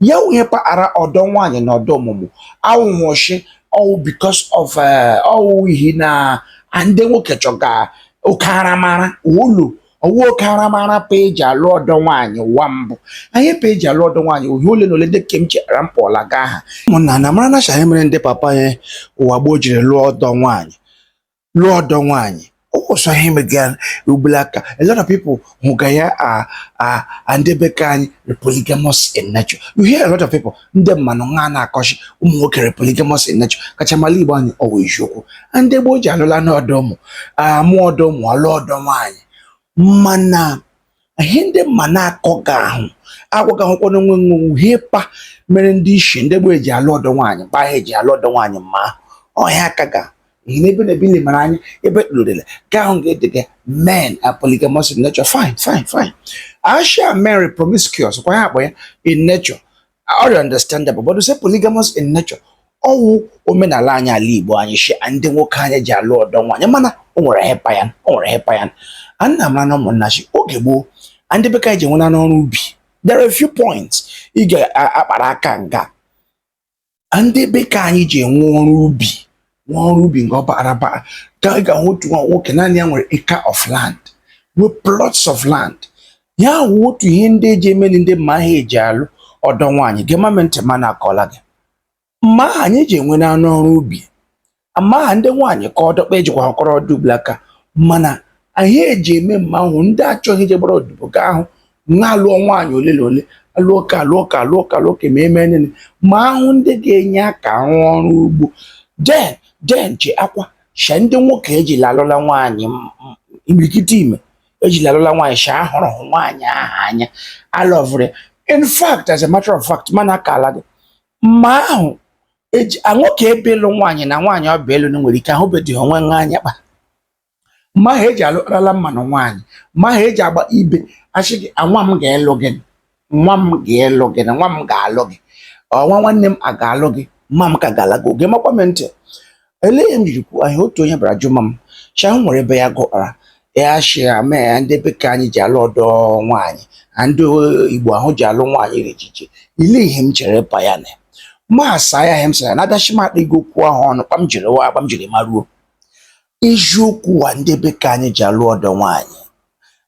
ya nwunye paghara ọdọ nwaanyị na ọdọ ọmụmụ awụghị shi ọ wụ because of eh, ọ wụ ihi na ndị nwoke chọga oke aramara ụlọ ọ wụ oke aramara pa eji alụ ọdọ nwaanyị ụwa mbụ anyị pa eji alụ ọdọ nwaanyị ihe ole na ole ndị kem chera mpụọla ga aha ụmụnna na mara na shi ọ wụ ihe mere ndị papa anyị ụwa gboo jiri lụọ ọdọ nwaanyị lụọ ọdọ nwaanyị ọ wụ sọ ihe mega ugbula aka a lot of people hụga ya ande be ka anyị are polygamous in nature you hear a lot of people ndị mmanụ nwa na-akọ shi ụmụ nwoke are polygamous in nature kachama ala igbo anyị ọ wụ eziokwu ndị gboo ji alụla n'ọdọ ụmụ amụ ọdọ ụmụ alụ ọdọ nwaanyị mana ihe ndị mmanụ akọgahụ agwagahụkwa na onwe nwa wụ ihe pa mere ndị ishi ndị gboo eji alụ ọdọ nwaanyị mgbe ahụ eji alụ ọdọ nwaanyị mma ahụ ihe akaga ihi na ebe na ebe i lemara anya ebe kpụrụdele ga ahụ ga edega men are polygamous in nature fine fine fine a shi men are promiscuous kwa ya akpọ ya in nature ọ dị understandable but say polygamous in nature ọ wụ omenala anyị ala Igbo anyị shi ndị nwoke anyị ji alụ ọdọ nwaanyị mana o nwere ihe pa ya o nwere ihe pa ya a nna mara na ụmụnna shi oge gboo ndị be ka anyị ji nwenanụ ọrụ ubi there are a few points ị ga-akpara aka nga ndị be ka anyị ji enwe ọrụ ubi nwe ọrụ ubi nke ọ bara aba ka ị ga-ahụ otu nwa nwoke naanị ya nwere acre of land with plots of land ihe a wụ otu ihe ndị eji emeli ndị mma aha eji alụ ọdọ nwaanyị gemama ntị ma na-akọla gị mma aha anyị ji enwenanụ ọrụ ubi mma aha ndị nwaanyị ka ọdọkpa ejikwa akọrọ ọdụ ugbula aka mana anyị eji eme mma ahụ ndị achọghị ije gbara odibo ga ahụ na-alụọ nwaanyị ole na ole alụọ ka alụọ ka alụọ ka alụọ ka ma eme nene ma ahụ ndị ga-enye aka rụọ ọrụ ugbo then then cheekwa sha ndị nwoke ejila alụla nwaanyị m- m- imirikiti ime ejila alụla nwaanyị sha ahụrụ hụ nwaanyị ahụ anya alọvụrụ ya in fact as a matter of fact m na-akala gị mma ahụ eji a nwoke bịa ịlụ nwaanyị na nwaanyị ọ bịa ịlụ na nwere ike ahụbeghị onwe nwa anya kpa mma ha eji alụrala mmanụ nwaanyị mma ha eji agba ibe a shị gị nwa m ga-elụ gị nwa m ga-elụ gị na nwa m ga-alụ gị ọ nwa nwanne m a ga-alụ gị mma m kagala gị gemakwa m ntị elee ihe m jiri kwuo ihe a otu onye bịara jụma m shi o nwere ebe ya gụkpara ya shi ya mee ya ndị be ka anyị ji alụ ọdọ nwaanyị na ndị igbo ahụ ji alụ nwaanyị dị iche iche elee ihe m chere pa ya na m asa ya ihe m sara na adachi m akpa ego okwu ahụ ọnụ kpa m jiri wụ kpa m jiri maruo eziokwu a ndị be ka anyị ji alụ ọdọ nwaanyị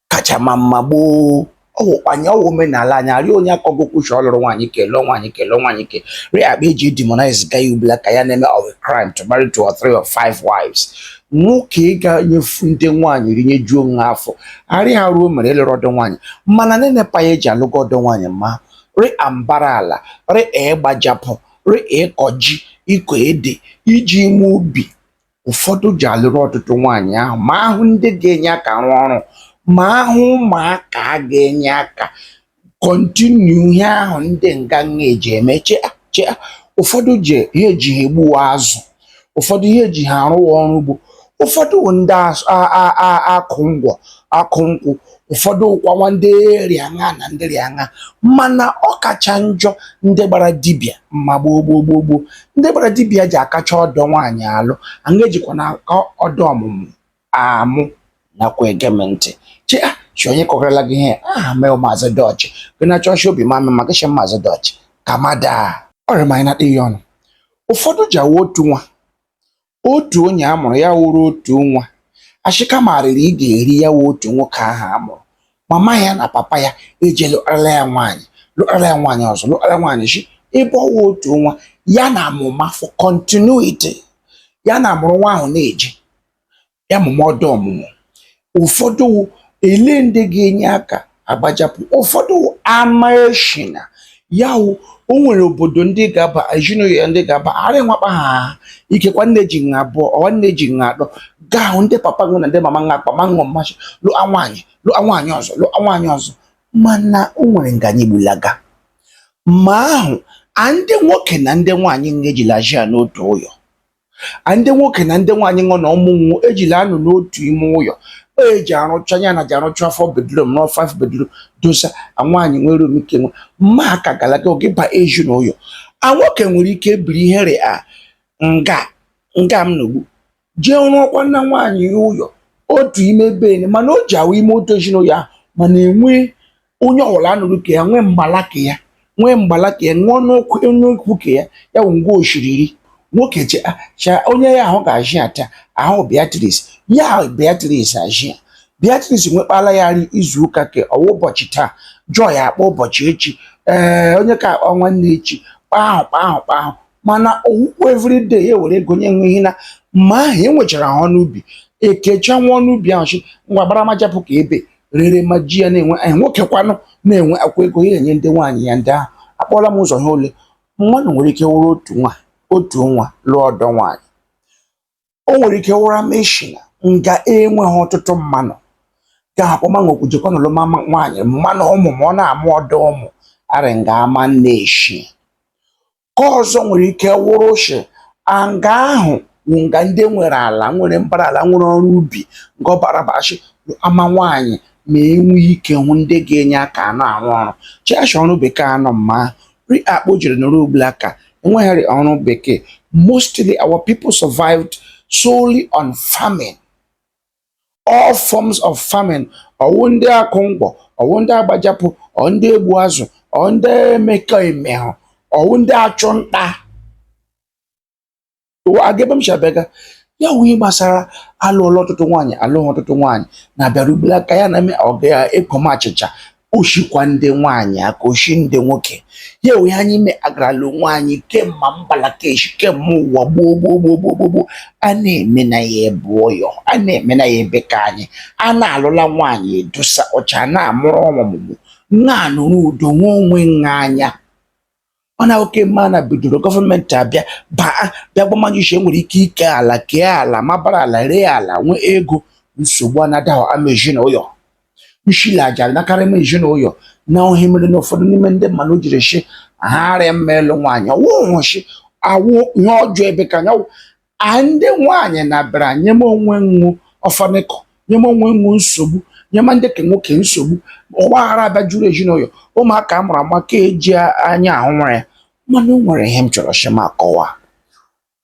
kacha ma mma gboo ọwụkwanye ọwụ omenala anyị arịa onye akọgokwu shi ọ lụrụ nwaanyị ke lụọ nwaanyị ke lụọ nwaanyị ke rịa akpa eji demonize ga ya ugbula ka ya na-eme of a crime to marry two or three or five wives nwoke ga-enyefu ndị nwaanyị nri nyejuo nwa afọ arị ha ruo mere ịlụrụ ọdọ nwaanyị mana na-enepa ya eji alụgo ọdọ nwaanyị ma rị ambara ala rị ịgbajapụ rị ịkọ ji ịkọ ede iji ime ubi ụfọdụ ji alụrụ ọtụtụ nwaanyị ahụ ma ahụ ndị ga-enye aka rụọ ọrụ ma ahụ ụmụaka a ga-enye aka kọntinu ihe ahụ ndị nga a eji eme che a, che a. ụfọdụ ji ihe eji ha egbuwa azụ ụfọdụ ihe eji ha arụwa ọrụ ugbo ụfọdụ ndị akụ ngwọ akụ nkwụ ụfọdụ ụkwanwa ndị rị aṅa na ndị rị aṅa mana ọ kacha njọ ndị gbara dibịa mma gboo gboo gboo gboo ndị gbara dibịa ji akacha ọdọ nwaanyị alụ aṅa ejikwa na-aka ọdọ ọmụmụ amụ nakwa ege m ntị che a, shi onye kọgarala gị ihe aha mee maazị dọchị gị na chọọchị obi ma mma gị maazị dọchị ka mada ọ rị ma anyị na-akpa ihe ọnụ ụfọdụ ji awụ otu nwa otu onye a mụrụ ya wụrụ otu nwa ashị ka marịrị ị ga-eri ya wụ otu nwoke ahụ a mụrụ mama ya na papa ya eje lụọla ya nwaanyị lụọla ya nwaanyị ọzọ lụọla nwaanyị shi ebe ọ wụ otu nwa ya na amụma for continuity ya na amụrụ nwa ahụ na-eje ya mụma ọdọ ọmụmụ ụfọdụ ele ndị ga-enye aka agbajapụ ụfọdụ ama eshina ya wụ o nwere obodo ndị ga-aba ezinụyọ ndị ga-aba arị nwa kpa ahụ ikekwa nne ji nha abụọ ọ wụ nne ji nha atọ gaa hụ ndị papa ṅụ na ndị mama nha akpa ma ṅụ mmashị lụọ nwaanyị lụọ nwaanyị ọzọ lụọ nwaanyị ọzọ mana o nwere nga anyị gbulaga ma ahụ a ndị nwoke na ndị nwaanyị nga ejila ji ya n'otu ụyọ ndị nwoke na ndị nwaanyị ṅụ na ụmụ ṅụ ejila anọ n'otu ime ụyọ eji arụcha ya na ji arụcha four bedroom na five bedroom dosa nwaanyị nwere omike nwe mma aka galaga oge ba ezinụyọ nwoke nwere ike ebiri ihe rịa nga nga m nogbu jee rụọkwana nwaanyị ya ụyọ otu ime bene mana o ji awụ ime otu ezinụyọ ahụ mana enwe onye ọwụla anọrọ ke ya nwee mgbala ka ya nwee mgbala ka ya nwee n'okwu n'okwu ka ya ya wụ ngwa oshiriri nwoke che ah, cha onye ya ahụ ga-ajị ata ahụ Beatrice ya ahụ Beatrice ajị ya Beatrice nwekpala ya nri izu ụka ke ọ wụ ụbọchị taa Joy akpa ụbọchị echi ee onye ke akpa nwanne echi kpaa ahụ kpaa ahụ kpaa ahụ mana owukwu everyday ya were ego nye nwe ihe na ma ahụ enwechara ha ọnụ ubi ekecha nwa ọnụ ubi ahụ shi ngwa gbaramajapụ ka ebe rere ma ji ya na-enwe nwoke kwanụ na-enwe akwa ego ya enye ndị nwaanyị ya ndị ahụ akpọla m ụzọ ha ole mmadụ nwere ike wụrụ otu nwa lụọ ọdọ nwaanyị o nwere ike wụrụ ama eshi na nga enweghị ọtụtụ mmanụ ka akpọmanwekwu jekwa na lụma nwaanyị mmanụ ụmụ ma ọ na-amụ ọdọ ụmụ arị nga ama nna eshi ka ọzọ nwere ike wụrụ shi nga ahụ wụ nga ndị nwere ala nwere mbara ala nwere ọrụ ubi nga ọ bara bashi ama nwaanyị ma e nwee ike hụ ndị ga-enye aka anọ arụ ọrụ chiashi ọrụ bekee anọ mma ahụ rị akpa o jiri nọrọ ugbula ka enweghịrị ọrụ bekee mostly our people survived solely on farming all forms of farming ọwụ ndị akụ ngwọ ọwụ ndị agba japụ ọ ndị egbu azụ ọ ndị emekọ emehụ ọwụ ndị achụ nta agebe m chabega ya wụ ihe gbasara alụọla ọtụtụ nwaanyị alụghị ọtụtụ nwaanyị na-abịaru ugbula ka ya na-eme ọga ya ekom achịcha o shikwa ndị nwaanyị aka o shi ndị nwoke ya onye anyị me agarala nwaanyị kemma mbala ka e shi kemma ụwa gboo gboo gboo gboo gboo gboo a na-eme na ya ebe ọyọ a na-eme na ya ebe ka anyị a na-alụla nwaanyị edosa ọcha na-amụrụ ọmụmụ na-anụrụ udo nwa onwe nwa anya ọ na oke mma na bidoro gọọmenti abịa baa bịa gwa mmadụ ishi e nwere ike ike ala kee ala mabara ala ree ala nwee ego nsogbu anadaghị ama ezinụlọ nshile aja nakarị m ezinụlọ na ọ ihe mere na ụfọdụ n'ime ndị mmanụ jiri shi ha arịa mma ịlụ nwaanyị ọwụhụ shi ọwụ ihe ọjọọ ebe ka anyị ọwụ a ndị nwaanyị na-abịara nyema onwe nwụ ọfanịkọ nyema onwe nwụ nsogbu nyema ndị ka nwoke nsogbu ọgba aghara abịa juru ezinụlọ ụmụaka a mụrụ ama ka eji anya ahụ nwere ya mana o nwere ihe m chọrọ shi m akọwa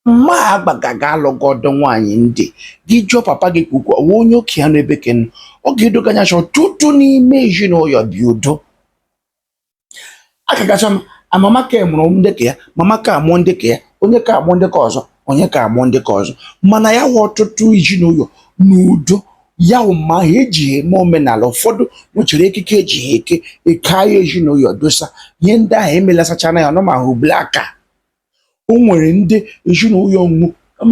mma agbagaga alụgo ọdọ nwaanyị ndị gị jụọ papa gị ka ukwu ọwa onye oke ya n'ebe ke ụnụ ọ ga-edo gị anya shi ọtụtụ n'ime ezinụlọ bi udo aka kacha ma mama ka mụrụ ndị ka ya mama ka amụọ ndị ka ya onye ka amụọ ndị ka ọzọ onye ka amụọ ndị ka ọzọ mana ya hụ ọtụtụ ezinụlọ n'udo ya wụ mma ahụ eji eme omenala ụfọdụ nwechara ekike eji ha eke eke ha ezinụlọ dosa ihe ndị ahụ emelasachana ya ọnụ ma ha ubele aka o nwere ndị ezinụlọ nwụ ha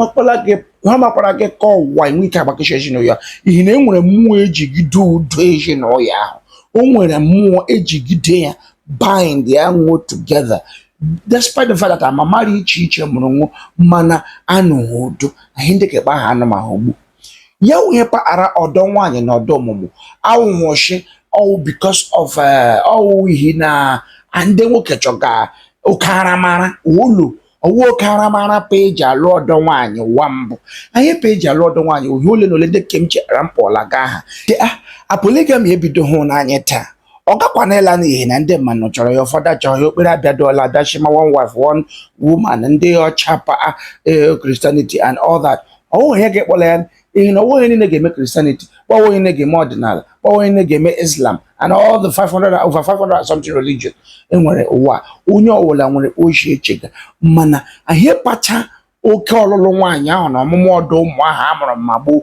makwara gị ka ọwa enwe ike agbakashi ezinụlọ ihi na e nwere mmụọ ejigide udo ezinụlọ ahụ o nwere mmụọ ejigide ya bind ya nwụ together despite the fact that mama rị iche iche mụrụ nwụ mana anụghị udo ahụ ndị ka kpa ha anụ mma ahụ ugbu ya wụ ihe paara ọdọ nwaanyị na ọdọ ọmụmụ awụhụ shi ọwụ because of eh, ọwụ ihi na ndị nwoke chọga oke aramara ụlọ ọwụ oke aramara pa eji alụ ọdọ nwaanyị ụwa mbụ ihe pa eji alụ ọdọ nwaanyị ọ ihe ole na ole ndị nke m chetara m kpọla gị aha polygamy ebidohụ n'anya taa ọ gakwana ịla n'ihi na ndị mmadụ chọrọ ya ụfọdụ achọghị ya okpere abịadụọla abịa shi ma one wife one woman ndị ọcha pa eh, Christianity and all that ọwụ onye ga-ekpọla ya ihi na ọwụghị onye niile ga-eme Christianity ọwụghị niile ga-eme ọdịnala ọwụghị niile ga-eme Islam and all the 500 over 500 and something religion enwere ụwa onye ọwụla nwere o shi echega mana ihe kpacha oke ọlụlụ nwaanyị ahụ na ọmụmụ ọdọ ụmụ ahụ a mụrụ ma gboo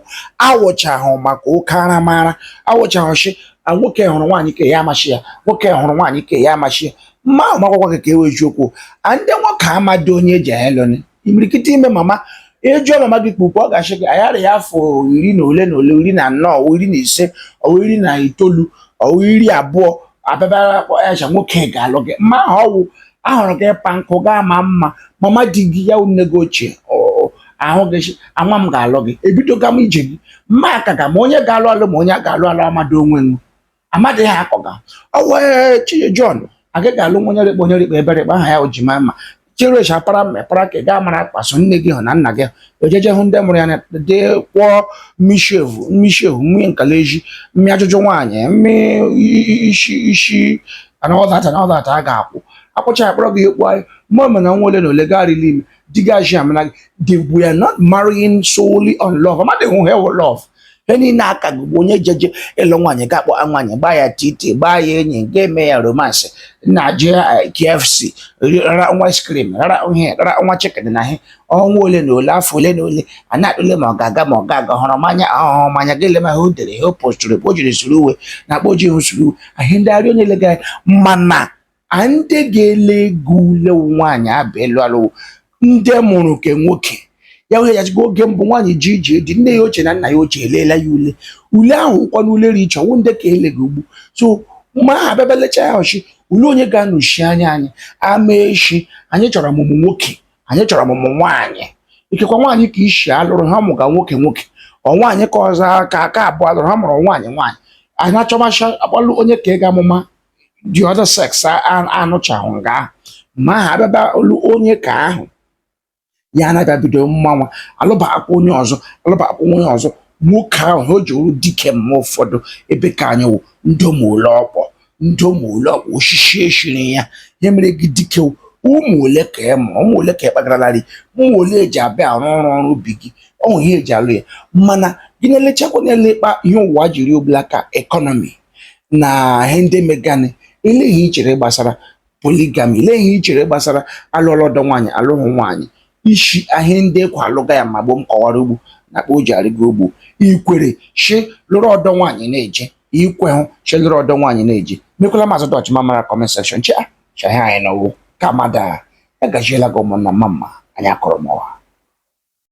awụchahụ maka oke aramara awụchahụ shi nwoke hụrụ nwaanyị ka ya amashị ya nwoke hụrụ nwaanyị ka ya amashị ya mma ahụ makwakwa gị ka e wee okwu a ndị nwoke amadị onye eji aheloni imirikiti ime mama ị jụọ mama gị kpukpu ọ ga-ashị gị ayara ya afọ iri na ole na ole iri na anọ ọ iri na ise ọ iri na itoolu ọ iri abụọ abịabara akpọ ya cha nwoke ga-alụ gị mma ahụ ọwụ ahụrụ gị ịkpa nkụ gaa ma mma mama di gị ya nne gị ochie ahụ gị anwa m ga-alụ gị ebidoga m ije gị mma aka ga ma onye ga-alụ alụ ma onye a ga-alụ alụ amadị onwe m amadị ha akọga ọwa chiye John agaghị alụ nwa onye rịkpa onye rịkpa ebere rịkpa aha ya o ji ma mma cherechi apara mepara ka ị gaa mara akpaso nne gị hụ na nna gị o jeje ịhụ ndị mụrụ ya na dị kwụọ mmishevu mmishevu mmị nkala eji mmị ajụjụ nwaanyị mmị isi anọdata anọdata a ga-akwụ akwụcha akpọrọ gị ekwu anyị mma mana ọnwa ole na ole garịla ime di gị aji amana gị they were not marrying solely on love amadịhụ ihe wụ love ihi na aka ugbu onye jeje ịlụ nwaanyị ga-akpọ nwaanyị gbaa ya titi gbaa ya enyi ga-eme ya romance na je eh, KFC rara nwa ice cream rara ihe rara nwa chicken na ihe ọnwa ole na ole afọ ole na ole a na-atụle ma ọ ga-aga ma ọ ga-aga hụrụ m anya ahụhụ m anya gị lema ihe o dere ihe o postụrụ o jiri suru uwe na akpọ ji ihu suru uwe ahịa ndị arịọ na-ele gị anya mana a ndị ga-ele ego ule nwaanyị abụ elu alụ ndị mụrụ nke nwoke ya wee ya jigo oge mbụ nwaanyị ji ije di nne ya ochie na nna ya ochie eleela ya ule ule ahụ ụkwa na ule ri iche ọnwụ ndị ka ele gị ugbu so ma ha abịabelecha ya ọchị ule onye ga-anọchi anya anyị ama echi anyị chọrọ ọmụmụ nwoke anyị chọrọ ọmụmụ nwaanyị ikekwa nwaanyị ka isi alụrụ ha mụga nwoke nwoke ọ nwaanyị ka ọzọ aka aka abụọ alụrụ ha mụrụ nwaanyị nwaanyị anyị achọmacha akpalụ onye ka ga-amụma the other sex anọchahụ nga ahụ ma ha abịaba ịlụ onye ka ahụ ya na-abịa bido mmanwa alụbakwa onye ọzọ alụbakwa onye ọzọ nwoke ahụ ha o ji oru dike mma ụfọdụ ebe ka anyị wụ ndị ụmụụlọ ọkpọ ndị ụmụ ole ọkpa oshishi eshiri ya ihe mere gị dike ụmụ ole ka ị mụrụ ụmụ ole ka ị kpagalarị ụmụ ole eji abịa arụ ọrụ ọrụ ubi gị ọ wụ ihe eji alụ ya mana gị na-elechakwa na-ele kpa ihe ụwa jiri ugbula ka economy na ihe ndị megani elee ihe i chere gbasara polygamy lee ihe i chere gbasara alụọla ọdọ nwaanyị alụhụ nwaanyị ishi ahịa ndị ekwe alụga ya ma gboo m kọwara ugbu na kpa o ji arịgo ugbu i kwere shi lụrụ ọdọ nwaanyị na-eje i kwehụ shi lụrụ ọdọ nwaanyị na-eje mekwala mazụ dọch ma mara comment section chi a chi ahịa anyị nọwo ka madụ agajiela gị ụmụnna mma mma anyị akọrọ m ọha